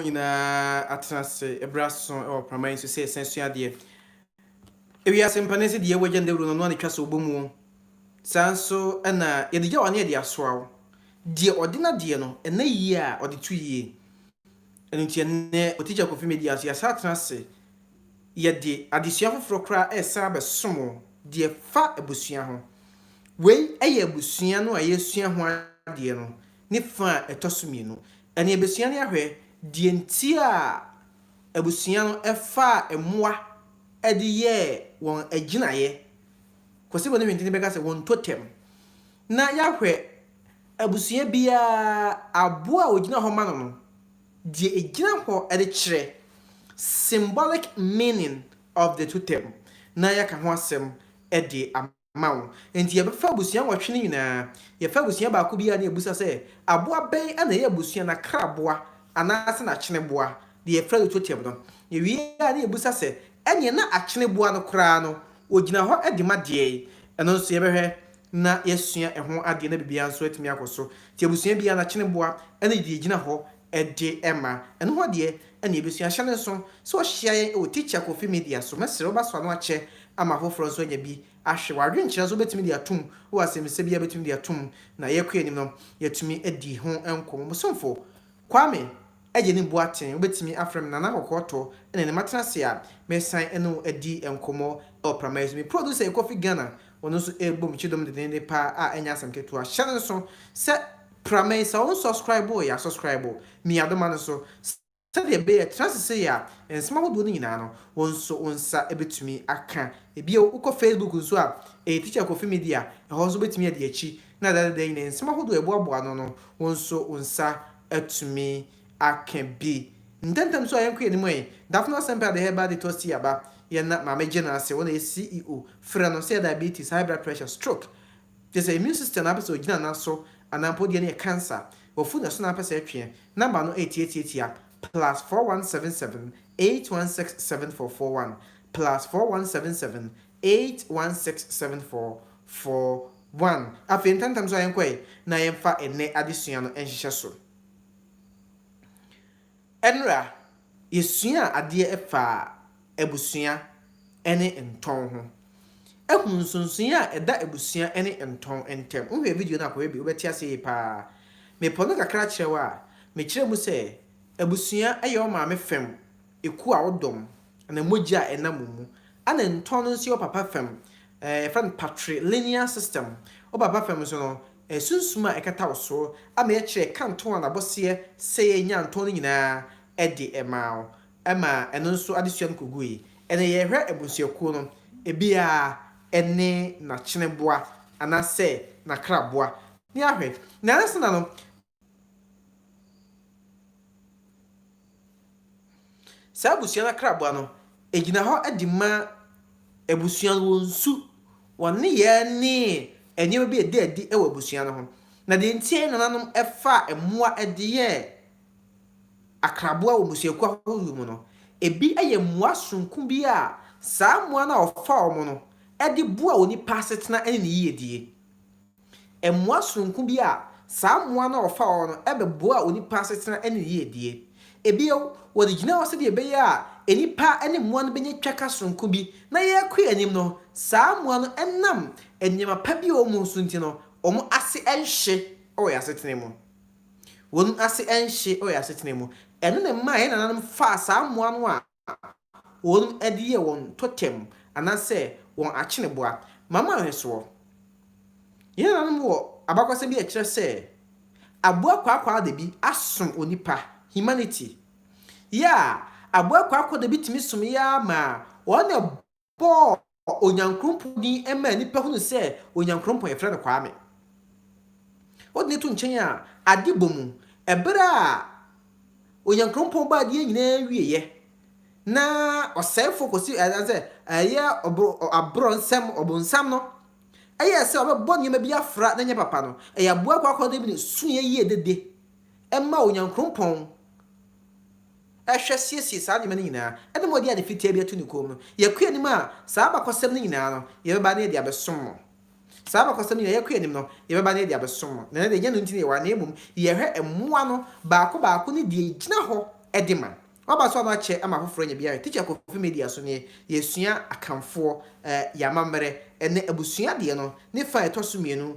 wɔn nyinaa atena ase bere aso wɔ Praman yi so sɛ yɛsan sua adeɛ. Ewiase mpa no sɛ deɛ yɛwɔ agya no dawuro no ɔno a na ɛtwa sɛ ɔbɔ mu o. Saa nso na yɛde gya wɔ ano yɛde asoa o. Deɛ ɔde n'adeɛ no ɛna yie a ɔde to yie. Ɛno nti ɛnnɛ wɔ Teacher Kofi Media so yɛasan atena ase yɛde adesua foforɔ koraa resan abɛsom wo deɛ ɛfa abusua ho. Wei yɛ abusua no a yɛresua ho adeɛ no ne fã a ɛtɔ so mmienu. Ɛnna yɛbɛsua no ahwɛ deɛ nti a abusua no faa mmoa de yɛɛ wɔn agyinaeɛ. Kwasibo ne Hwentene bɛka sɛ wɔn totem. Na yɛahwɛ abusua biara aboa a wɔgyina hɔ ma no no, deɛ ɛgyina hɔ de kyerɛ, symbolic meaning of the totem, na yɛaka ho asɛm de ama. ma wo. Enti yɛbɛfa abusua nwɔtwe no nyinaa. Yɛfa abusua baako biara na yɛbisa sɛ, Aboa bɛn na ɛyɛ abusua no akraboa anaasɛ n'akyeneboa, deɛ yɛfrɛ no totem no? Yɛwie a na yɛbisa sɛ, Ɛnneɛ na akyeneboa no koraa no, ɔgyina hɔ de ma deɛn? Ɛno nso yɛbɛhwɛ na yɛasua ɛho adeɛ na biribiara nso atumi akɔ so. Enti abusua biara n'akyeneboa ne deɛ ɛgyina hɔ de ma. Ɛno hɔ deɛ, ɛnna yɛbɛsua ahyɛ no nso. Sɛ wohyia yɛn wɔ Teacher Kofi Media so, mɛsrɛ wo bɛsɔ ano akyɛ ama afoforɔ nso anya bi ahwɛ. W'adwenkyerɛ nso wobɛtumi de atom wɔ asɛmmisa biara a wobɛtumi de atom na yɛkɔ yɛn anim no, yɛatumi adi ho nkɔmmɔ. Mo somfo, Kwame Agyeni Boateng. Wobɛtumi afrɛ me Nana Kɔkɔɔtɔ na ɛnna matra ase a meresan ne wo adi nkɔmmɔ wɔ prama yi so. Me producer yɛ Kofi Ghana, ɔno nso rebom kyidɔm dendeenden pa ara a ɛnyɛ asɛm ketewa. Hyɛ no nso sɛ. Pra me sɛ wo nsɔskraebo o yɛ asɔskraebo me yadoma no so sɛdeɛ ɛbɛyɛ ɛtra ase sei a nsɛm ahodoɔ no nyinaa no wo nso wo nsa bɛtumi aka bio wo kɔ Facebook nso a ɛyɛ teacher kofi media ɛhɔ nso wobɛtumi adi akyi na dadada nyinaa nsɛm ahodoɔ ɛboaboa ano no wo nso wo nsa atumi aka bi ntɛntɛm nso a yɛnkɔ yɛn anim ɛ Daphna Semper the herbal detox tea aba yɛn na maame gye no ase wɔn na yɛ CEO frɛ no sɛ diabetes high blood pressure stroke Gye sɛ immune system no ara pɛ sɛ ɔgyina nan so anaa mpo deɛ no yɛ cancer, wafu na ɛso na ara pɛ sɛ ɛtweɛ, number no ɛyɛ tiatiatia, plus four one seven seven eight one six seven four four one, plus four one seven seven eight one six seven four four one. Afei ntɛmntɛm nso a yɛnkɔ ɛ na yɛmfa ɛnnɛ adesua no nhyehyɛ so. Ɛnora, yɛsuaa adeɛ faa abusua ne ntɔn ho. Hunu nsonsonoeɛ a ɛda abusua ne ntɔn ntam. Wohwɛ video no a kɔhwɛ bi, wobɛte aseɛ yie pa ara. Mepɔ no kakra kyerɛ wo a, mekyerɛ mu sɛ, abusua yɛ wo maame fam ekuo a wodɔm, anaa mogya a ɛnam wo mu. Ɛna ntɔn no nso yɛ wo papa fam, yɛfrɛ no patrilineal system. Wo papa fam nso no, Sunsum a ɛkata wo so ama yɛkyerɛ ɛkantɔn a n'abɔseɛ sɛ yɛnnya ntɔn no nyinaa de maa wo ma ɛno nso adesua no kɔgui. Ɛnnɛ yɛrehwɛ abusuakuo no, ebiara ɛne n'akyene boa anaasɛ n'akraboa. Ne ahwɛ. Nnansa no, Saa abusua no akraboa no gyina hɔ de ma abusua no wɔn su, wɔn nneyɛɛ ne nneɛma bi a ɛda adi wɔ abusua no ho. Na deɛ nti a nananom faa mmoa de yɛɛ akraboa wɔ mmusuakuo ahodoɔ mu no, ebi yɛ mmoa soronko bi a saa mmoa no a wɔfa wɔn no de boa onipa asetena ne ne yiedie. Mmoa soronko bi a saa mmoa no a wɔfa wɔn no bɛboa onipa asetena ne yiedie. Bio, wɔde gyinaa hɔ sɛdeɛ ɛbɛyɛ a nnipa ne mmoa no bɛnya twaka soronko bi na yɛrekɔ yɛn anim no, saa mmoa no ɛnam nneɛma pa bi a wɔwɔ mu so nti no, wɔn ase nhye wɔ yɛn asetena mu. Wɔn ase nhye wɔ yɛn asetena mu. Ɛno na ɛmaa yɛn nananom faa saa mmoa no a. wɔde yɛ wɔn totɛm anaasɛ wɔn akyeneboa. Ma mo nhwɛsoɔ. Yɛn nananom wɔ abakɔsɛm bi a ɛkyerɛ sɛ aboa kwaakwaadabi asom onipa, humanity. Yɛ a aboa kwaakwaadabi tumi someeɛ ara maa wɔn na bɔɔ Onyankrompɔn din maa nnipa hunu sɛ Onyankrompɔn yɛfrɛ no Kwame. Wode no to nkyɛn a, ade bɔ mu. Ɛberɛ a Onyankrompɔn bɔ adeɛ nyinaa wieɛ, na ɔsɛefoɔ kɔsi ɛdan sɛ ɛyɛ ɔboro aborɔ nsɛm ɔbonsam no, ɛyɛ sɛ ɔbɛbɔ nneɛma bi afra na ɛnyɛ papa no, ɛyɛ aboa kwaakwaadabi no suiɛ yie dede ma Onyankrompɔn. hwɛ siesie saa nneɛma no nyinaa, ɛna ma ɔde ade fitaa bi ato ne kɔn mu. Yɛkɔ anim a, saa abakɔsɛm no nyinaa no, yɛbɛba na yɛde abɛsom mo. Saa abakɔsɛm no nyinaa, yɛkɔ anim no, yɛbɛba na yɛde abɛsom mo. Na ɛnnɛ deɛ, ɛnyɛ ɛno nti na yɛwɔ ha, na mmom yɛhwɛ mmoa no baako baako ne deɛ ɛgyina hɔ de ma. Woaba so a na woakyɛ ama afoforɔ anya bi ahwɛ. Tikya Kofi Media so nie, yɛresua Akanfoɔ, yɛn amammerɛ, ɛnnɛ abusua deɛ no, ne fa a ɛtɔ so mmienu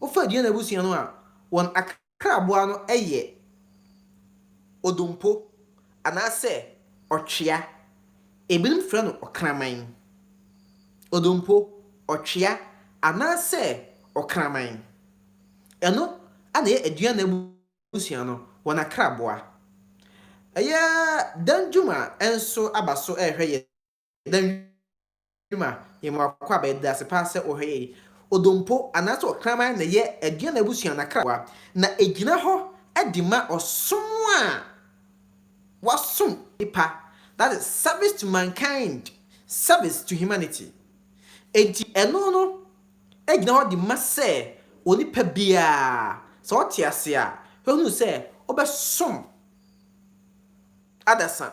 Wofa Aduane abusua no a, wɔn akraboa no yɛ odompo anaasɛ ɔtwea. Ebinom frɛ no ɔkraman. Odompo, ɔtwea, anaasɛ ɔkraman. Ɛno na ɛyɛ Aduane abusua no wɔn akraboa. Ɛyɛ Danjuma nso aba so rehwɛ yɛn Danwuma, yɛma wo akwaaba yi, yɛda ase paa sɛ wohwɛ yɛn. Odompo anaasɛ ɔkraman na ɛyɛ Aduana abusua no akrawa, na ɛgyina hɔ de ma ɔsom a wɔasom nnipa, that is, service to mankind, service to humanity. Enti ɛno no gyina hɔ de ma sɛ onipa biara, sɛ ɔte ase a, ɔhunu sɛ ɔbɛsom adasa.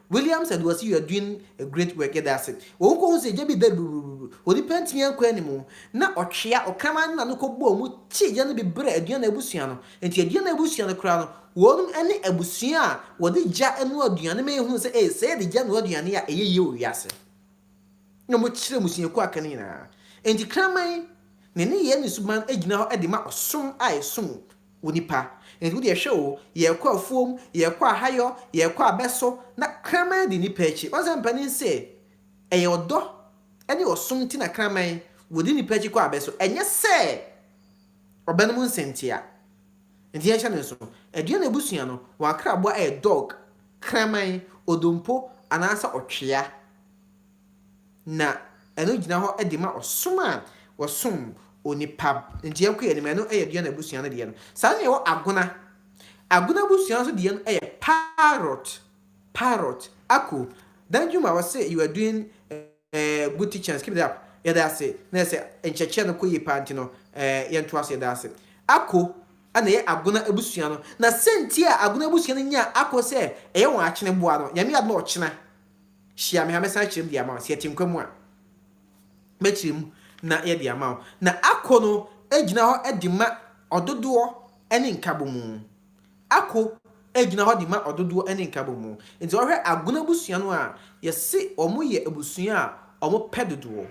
Williams and wɔse you are doing a great work yɛda ase. Wɔn kɔ hu sɛ gya bi dɛre brurururu, onipa ntumi ankɔ anim. Na ɔtwea, ɔkraman no na no kɔ bɔɔ mu kyee gya no bi brɛɛ Aduana abusua no. Nti Aduana abusua no koraa no, wɔnom ne abusua a wɔde gya noa aduane no ma yɛhunu sɛ ee, sɛ yɛde gya noa aduane a ɛyɛ yie wɔ wiase. Na wɔn kyerɛ mmusuakuo aka no nyinaa. Nti kraman, ne nneyɛɛ ne suban gyina hɔ de ma ɔsom a yɛsom onipa. Enti wodeɛ hwɛ o, yɛɛkɔ afuom, yɛɛkɔ ahayɔ, yɛɛkɔ abɛso, na kraman di nnipa akyi. Woahu sɛ mpanin se, ɛyɛ ɔdɔ ne ɔsom nti na kraman wɔdi nnipa akyi kɔ abɛso, ɛnyɛ sɛ ɔbɛ nom nsɛntia. Enti yɛnhyɛ no nso, aduan na abusua no, wɔn akraboa yɛ dog, kraman, odompo, anaasɛ ɔtwea. na ɛno gyina hɔ de ma ɔsom a wɔsom onipa nti yɛnkɔ yɛn anim ɛno yɛ Duane abusua no deɛ no saa na yɛwɔ Agona Agona abusua nso deɛ no yɛ parrot parrot ako Danjuma wɔ se you are doing uh, good teachings keep it up yɛda ase na yɛ sɛ nkyɛkyɛ no kɔ yie paa nti no uh, yɛnto ase yɛda ase ako ɛna ɛyɛ Agona abusua no na sɛnti a Agona abusua no nyaa ako sɛ ɛyɛ wɔn akyene boa no nyame ade na ɔkyena Hyia me ha, mɛsan akyerɛ mu de ama wo. Sɛ yɛte nkwa mu a, mɛkyerɛ mu na yɛde ama wo. Na ako no gyina hɔ de ma ɔdodoɔ ne nkabomu. Ako gyina hɔ de ma ɔdodoɔ ne nkabomu. Nti sɛ wohwɛ Agona abusua no a, yɛse wɔn yɛ abusua a wɔn pɛ dodoɔ,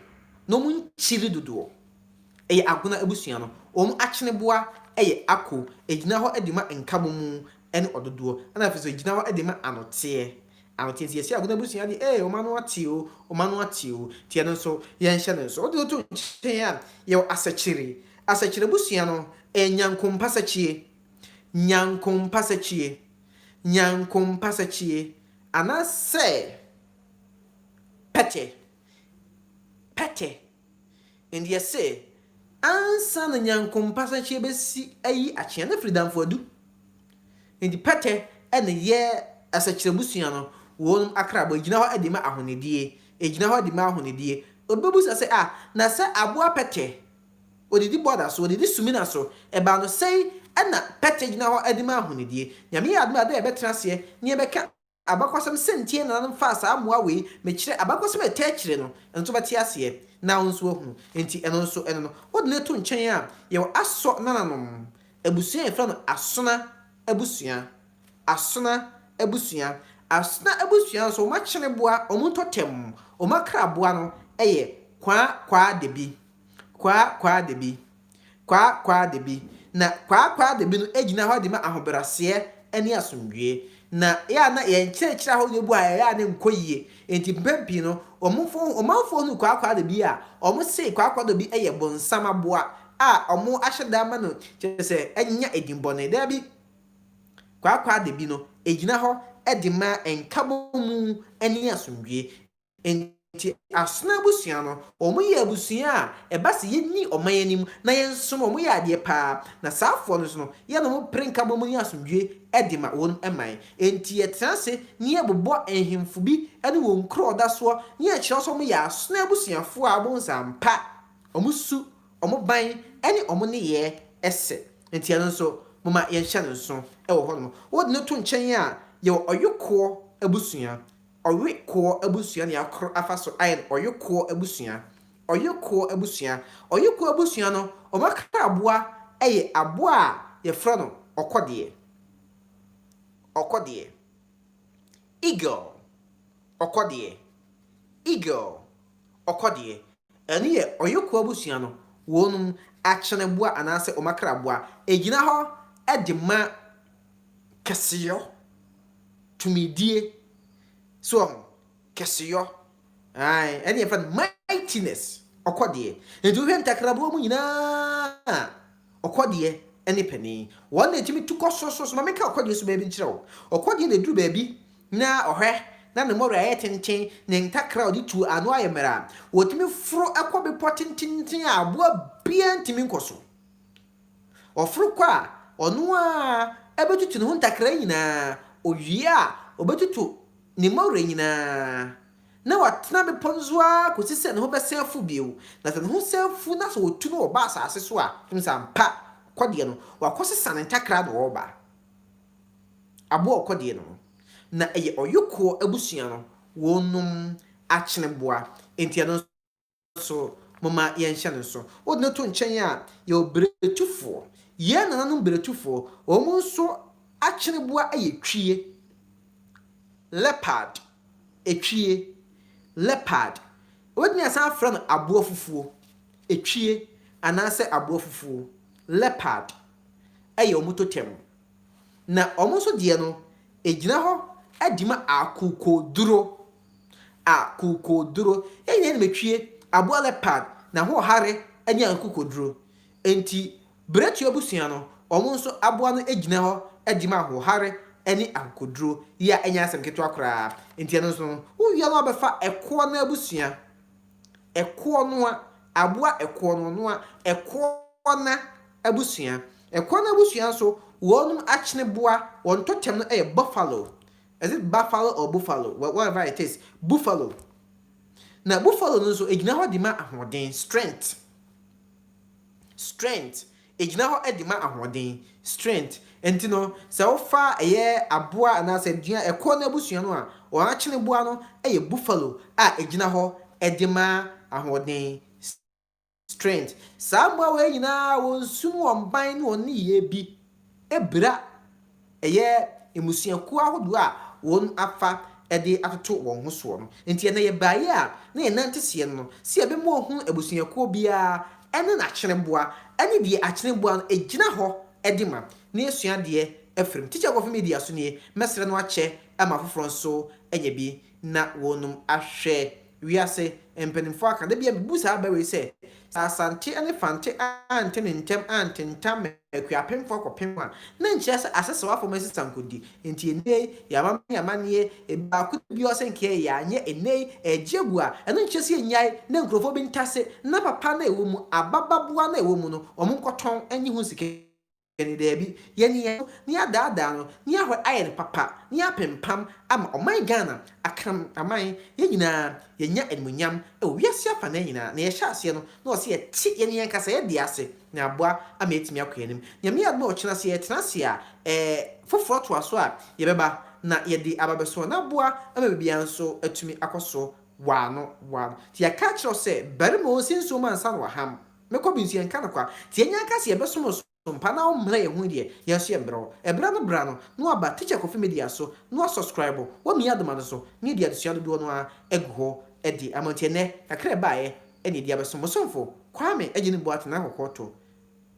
na wɔn nkyiri dodoɔ. Ɛyɛ Agona abusua no. Wɔn akyeneboa yɛ ako. Ɛgyina hɔ de ma nkabomu ne ɔdodoɔ, ɛna afei nso ɛgyina hɔ de ma anoteɛ, anoteɛ nti yɛse Agona abusua deɛ ee wɔn ano ate o, wɔn ano ate o, nti ɛno nso yɛnhyɛ no nso. Wode no to nkyɛn a, yɛwɔ Asɛkyere, Asɛkyere abusua no ɛyɛ Nyankompasakyie, Nyankompasakyie, Nyankompasakyie anaasɛ Pɛtɛ, Pɛtɛ. Enti yɛse, ansa na Nyankompa sɛnkyea besi ayi akyea no afiri damfo adu. Enti pɛtɛ na ɛyɛ asakyirabusua no wɔnom akrabɔ, egyina hɔ de ma ahonidie, egyina hɔ de ma ahonidie. Obi bɛbusa sɛ, ah, na sɛ aboa pɛtɛ, odidi bɔda so, odidi sumina so, ɛbaa no sɛi na pɛtɛ gyina hɔ de ma ahonidie. Nyame yɛ adom a ɛbɛyɛ a ɛbɛtena aseɛ na yɛbɛka. Abakɔsɛm sɛntie nananom mfaa saa mmoa wei mekyerɛ abakɔsɛm a ɛtaa akyire no nso bɛte aseɛ na wo nso ahunu enti ɛno nso ɛno no wode no to nkyɛn a yɛwɔ asɔ nananom abusua a yɛfrɛ no asona abusua asona abusua asona abusua nso wɔn akyeneboa wɔn ntɔtam wɔn akraboa no yɛ kwaa kwaa debi kwaa kwaa debi Kwaa Kwaa Dabi, na Kwaa Kwaa Dabi no gyina hɔ de ma ahobrɛaseɛ ne asomdwoeɛ. Na ɛyɛ a na yɛn nkyerɛkyerɛ ahorow no bu a ɛyɛ a na ɛnkɔ yie, enti mpɛn pii no ɔmofo ɔmanfoɔ hunuu Kwaa Kwaa Dabi a, wɔsee Kwaa Kwaa Dabi yɛ bonsam aboa a wɔahyɛ da ama no kyerɛ sɛ anya edin bɔne. Dabi, Kwaa Kwaa Dabi no gyina hɔ de ma nkabɔmu ne asomdwoeɛ. Enti Asona abusua no, wɔyɛ abusua a ɛba sɛ yɛnni ɔman anim na yɛnsom a, wɔyɛ adeɛ pa ara. Na saafoɔ no nso no, yɛne wɔn pere nkabom ne asomdwoeɛ de ma wɔn man. Enti yɛtena ase na yɛbobɔ nhemfo bi ne wɔn nkuro a wɔda soɔ na yɛkyerɛ sɛ wɔyɛ Asona abusuafoɔ a wɔbom sɛ ampa wɔn su, wɔn ban ne wɔn nneyɛɛ ɛsɛ. Enti ɛno nso, momma yɛnhyɛ no nsono wɔ hɔnom. Wode no to nkyɛn a, yɛwɔ Ɔyokoɔ abusua. Ɔye koɔ abusua nea koro afa so aye no ɔye koɔ abusua. Ɔye koɔ abusua. Ɔye koɔ abusua no wɔn akra aboa ye aboa a yɛfrɛ no ɔkɔdeɛ. Ɔkɔdeɛ. Eagle. Ɔkɔdeɛ. Eagle. Ɔkɔdeɛ. Ɛno yɛ ɔyɔkuo abusua no wɔn akyeneboa anaasɛ wɔn akraboa. Ɛgyina hɔ de ma kɛseyɔ, tumidie. So wɔn ho? Kɛseyɔ. Ae, ɛne yɛfrɛ no mightiness, ɔkɔdeɛ. Nti wohwɛ ntakraboa mu nyinaa a, Ɔkɔdeɛ ne panin. Wɔn na ɛtumi tu kɔ soro soro. Ma menka ɔkɔdeɛ suban bi nkyerɛ wo. Ɔkɔdeɛ na ɛduru baabi na ɔhwɛ na ne mmɔwerɛ ayɛ tenten, ne ntakra a ɔde tuo ano ayɛ mmerɛ. Wɔtumi foro kɔ bepɔ tententen a aboa biara ntumi nkɔ so. Ɔforo kɔ a, ɔno ara bɛtutu ne ho ntakra nyinaa. Ɔwie a, ɔbɛtutu ne mmɔwerɛ nyinaa. na watena bepɔ no so ara kɔsi sɛ ne ho bɛsan afu bio, na sɛ ne ho san fu na sɛ wɔtu no wɔ ba asase so a, ɔtumi sɛ ampa, ɔkɔdeɛ no, wakɔsesa ne ntakra na ɔreba. Aboa a ɔkɔdeɛ no no, na ɛyɛ ɔyokoɔ abusua no wɔnom akyeneboa, enti ɛno nso, so momma yɛnhyɛ no nso. Wode no to nkyɛn a, yɛwɔ brekyifoɔ. Yɛn nananom brekyifoɔ, wɔn nso akyeneboa yɛ twie, leopard, etwie, leopard. Wobɛtumi asan afrɛ no aboa fufuo, etwie, anaasɛ aboa fufuo, leopard, yɛ wɔn totem. na wɔn nso deɛ no, ɛgyina hɔ de ma akokoduro, akokoduro. Yɛn nyinaa nim atwie, aboa leopard, n'ahoɔhare ne akokoduro. Enti Beretua abusua no, wɔn nso aboa no gyina hɔ de ma ahoɔhare ne akokoduro. Yei a ɛnyɛ asɛm ketewa koraa. Enti ɛno nso no, wowia no a wobɛfa ɛkoɔ no abusua. Ɛkoɔ noa, aboa ɛkoɔ no noa, ɛkoɔ na abusua. Ɛkoɔ no abusua nso wɔnom akyene boa, wɔn tɔtɛm no yɛ buffalo, is it buffalo or buffalo, whatever it is, buffalo. Na buffalo no nso ɛgyina hɔ de ma ahoɔden, strength, strength, Egyina hɔ de ma ahoɔden, strength. Enti no, sɛ wofa ɛyɛ aboa anaasɛ aduan a ɛkorɔ no abusua no a, wɔn akyeneboa no yɛ buffalo a egyina hɔ de ma ahoɔden, strength. Saa mmoa wei nyinaa wɔn su ne wɔn ban ne wɔn nneyɛɛ bi bira Ɛyɛ mmusuakuo ahodoɔ a wɔn afa de atoto wɔn ho soɔ no nti ɛnɛ yɛbaeɛ a na yɛn nan teseɛ no no sɛ yɛbɛma wɔahunu abusuakuo biara ne n'akyereboa ne deɛ akyereboa no gyina hɔ de ma na yɛasua adeɛ afiri mu. Teacher Kofi Media so nie, mɛsrɛ no akyɛ ma afoforɔ nso anya bi. na wɔnum ahwɛ. Wiase mpanimfoɔ aka. Da bi ara mebu saa aba wei sɛ, sɛ Asante ne Fante ante ne ntɛm antentam ma Akuapemfoɔ akɔpem a, na ɛnkyerɛ sɛ Asesawafoɔ mu asesankɔdi nti ɛnnɛ yi yɛamammerɛ ne amanneɛ, biako da bi ara sɛ nka yɛanyɛ ɛnnɛ yi ɛregye agu a, ɛno nkyerɛ sɛ yɛnnyae na nkurɔfoɔ bi ntase na papa no a ɛwɔ mu, aba baboa no a ɛwɔ mu no, wɔnkɔtɔn nnye ho sika. Daabi, yɛ ne yɛn ho, na yɛadaadaa no, na yɛahwɛ ayɛ no papa, na yɛapempam ama ɔman Ghana, Akraman, yɛn nyinaa yɛanya animuonyam wɔ wiase afanan nyinaa. Nea yɛhyɛ aseɛ no, na ɛwɔ sɛ yɛte yɛn yɛn kasayɛ deɛ ase, na aboa ama yɛatumi akɔ yɛn anim. Nyame yɛ adom a ɔkyena sɛ yɛtena ase a, ɛɛ, foforɔ toa so a, yɛbɛba, na yɛde aba abɛso wɔn, na aboa ama biribiara nso atumi akɔ so waano waano. Nti yɛaka akyerɛ wo sɛ, barima o, nsi nsuo ma nsa no waham. Me kɔ bi nso yɛnka no kwa. Tie nyan ka se yɛbɛsom wo som pa na wommrɛ yɛn ho yi deɛ, yɛn nso yɛmbrɛ wo. Ɛberɛ no bra no na waba Teacher Kofi Media so na wasɔskraibo wɔ Mia Doma no so na yɛde adesua dodoɔ no ara agu hɔ de ama nti ɛnnɛ kakra a ɛbaeɛ na yɛde abɛsom mo somfo Kwame Agyene Boateng Ahɔkoɔ to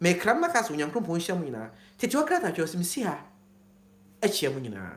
Mekra no na ka se Onyankrompɔn nhyira mo nyinaa Tete hɔ krataa twerɛ se mesi ha kyea mo nyinaa.